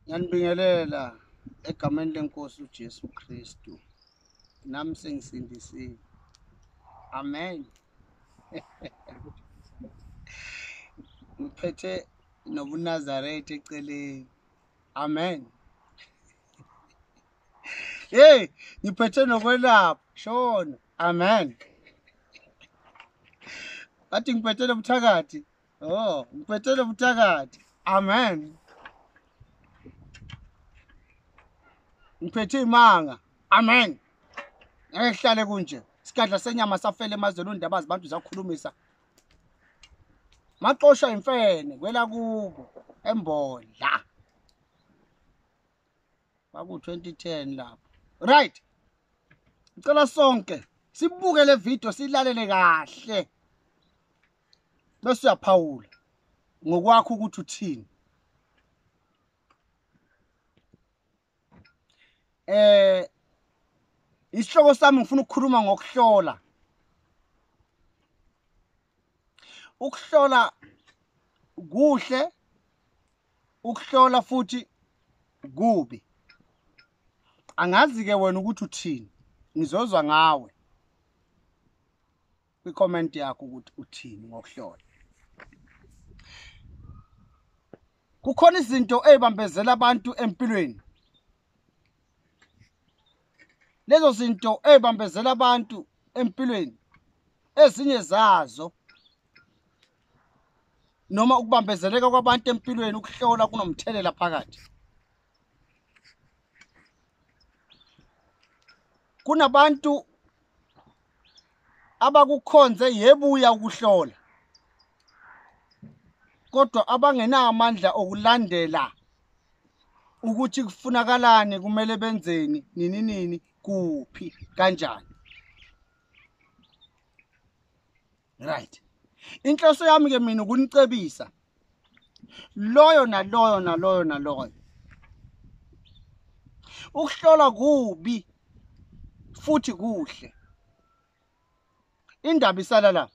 ngiyanibingelela egameni lenkosi uJesu Kristu nami sengisindisiwe amen ngiphethe nobunazaretha eceleni amen Hey, ngiphethe nokwelapha. Shona. Amen. Athi ngiphethe lobuthakathi. Oh, ngiphethe lobuthakathi. Amen. Ngiphethe imanga. Amen. Ngeke kuhlale kunje. Isikadla senyama safela emazweni undaba zabantu zakhulumisa. Maxosha imfene kwela kubo embodla. kwaku-2010 lapho right ngicela sonke sibuke le video silalele kahle bese uyaphawula ngokwakho ukuthi uthini eh isihloko sami ngifuna ukukhuluma ngokuhlola ukuhlola kuhle ukuhlola futhi kubi angazi-ke wena ukuthi uthini ngizozwa ngawe kwi-comment yakho ukuthi uthini ngokuhlola kukhona izinto ey'bambezela abantu empilweni lezo zinto ey'bambezela abantu empilweni ezinye zazo noma ukubambezeleka kwabantu empilweni ukuhlola kunomthelela phakathi kunabantu abakukhonze yebuya ukuhlola kodwa abangenawo amandla okulandela ukuthi kufunakalani kumele benzeni nini nini kuphi kanjani right inhloso yami ke mina ukunicebisa loyo naloyo naloyo naloyo ukuhlola kubi futhi kuhle indaba isala la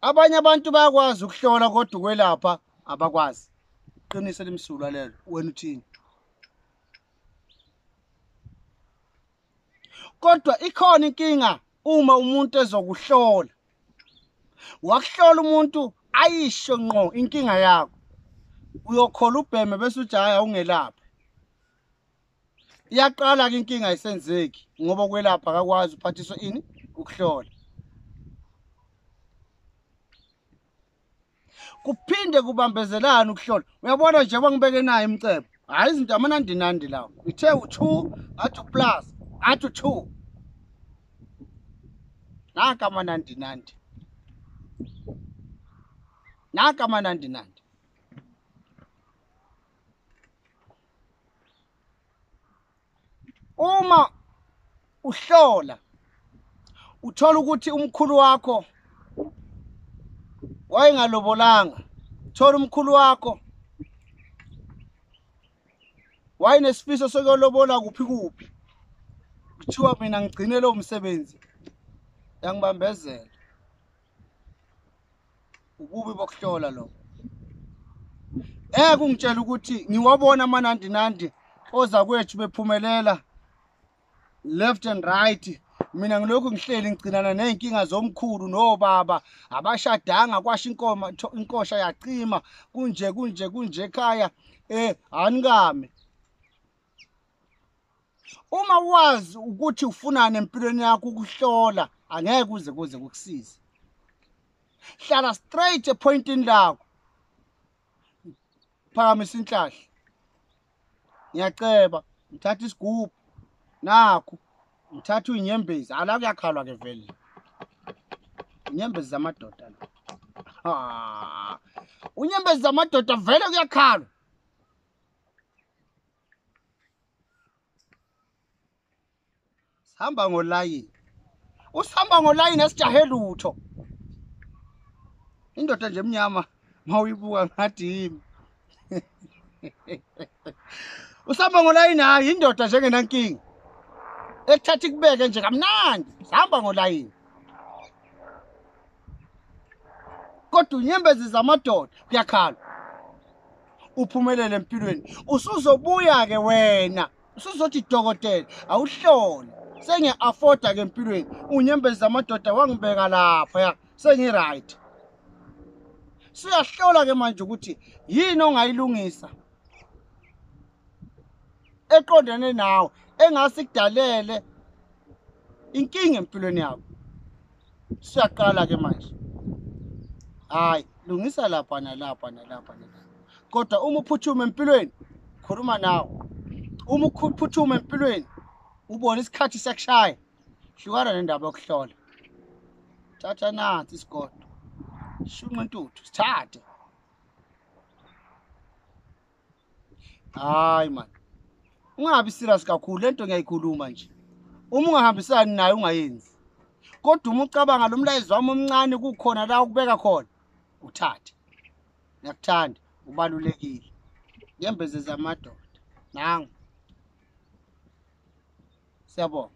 abanye abantu bayakwazi ukuhlola kodwa ukwelapha abakwazi qinise limsulwa lelo wena uthini kodwa ikhona inkinga uma umuntu ezokuhlola wakuhlola umuntu ayisho nqo inkinga yakho uyokhola ubheme bese ujaya ungelaphi iyaqala ke inkinga isenzeki ngoba ukwelapha akakwazi uphathiswa ini ukuhlola kuphinde kubambezelana ukuhlola uyabona nje kwangibeke nayo imcebo hhayi izinto amanandinandi lawo ithe u-two ngathi uplus ngathi u-two naka amanandinandi naka amanandinandi uma uhlola uthola ukuthi umkhulu wakho wayengalobolanga thola umkhulu wakho wayenesifiso sokuyolobola kuphi kuphi kuthiwa mina ngigcine lowo msebenzi yangibambezela ububi bokuhlola lo eke ungitshela ukuthi ngiwabona amanandinandi oza kwethu bephumelela left and right mina ngilokhu ngihleli ngigcinana ney'nkinga zomkhulu nobaba abashadanga kwasho inkoma inkosha yacima kunje kunje kunje ekhaya um eh, anikame Uma wazi ukuthi ufunani empilweni yakho ukuhlola angeke kuze kuze kukusize. Hlala straight epointini lakho. Phakamisa inhlahla. Ngiyaceba, ngithatha isigubhu. Nakho ngithatha uyinyembezi, ala kuyakhalwa ke vele. Inyembezi zamadoda la. Ha. Unyembezi zamadoda vele kuyakhalwa. sihamba ngolayini usihamba ngolayini esijahe lutho indoda nje emnyama mawuyibuka ngathi yimi usihamba ngolayini hayi indoda njengenankinga ekuthatha ikubeke nje kamnandi sihamba ngolayini kodwa unyembezi zamadoda kuyakhala uphumelele empilweni usuzobuya ke wena usuzothi dokotela awuhlole sengiya-afforda ke empilweni unyembezi zamadoda wangibeka lapha ya sengi-right siyahlola ke manje ukuthi yini ongayilungisa eqondene nawe engase kudalele inkinga empilweni yakho siyaqala ke manje hayi lungisa lapha nalapha nalapha nalapha kodwa uma uphuthuma empilweni khuluma nawe uma uphuthuma empilweni ubona isikhathi sekushaya hlukana nendaba yokuhlola thatha nansi isigodo shunqa intuthu sithathe hayi man ungabi serious kakhulu lento ngiyayikhuluma nje uma ungahambisani naye ungayenzi kodwa uma ucabanga lo mlayezo wami omncane kukhona la ukubeka khona uthathe ngiyakuthanda ubalulekile ngembeze zamadoda nangu siyabonga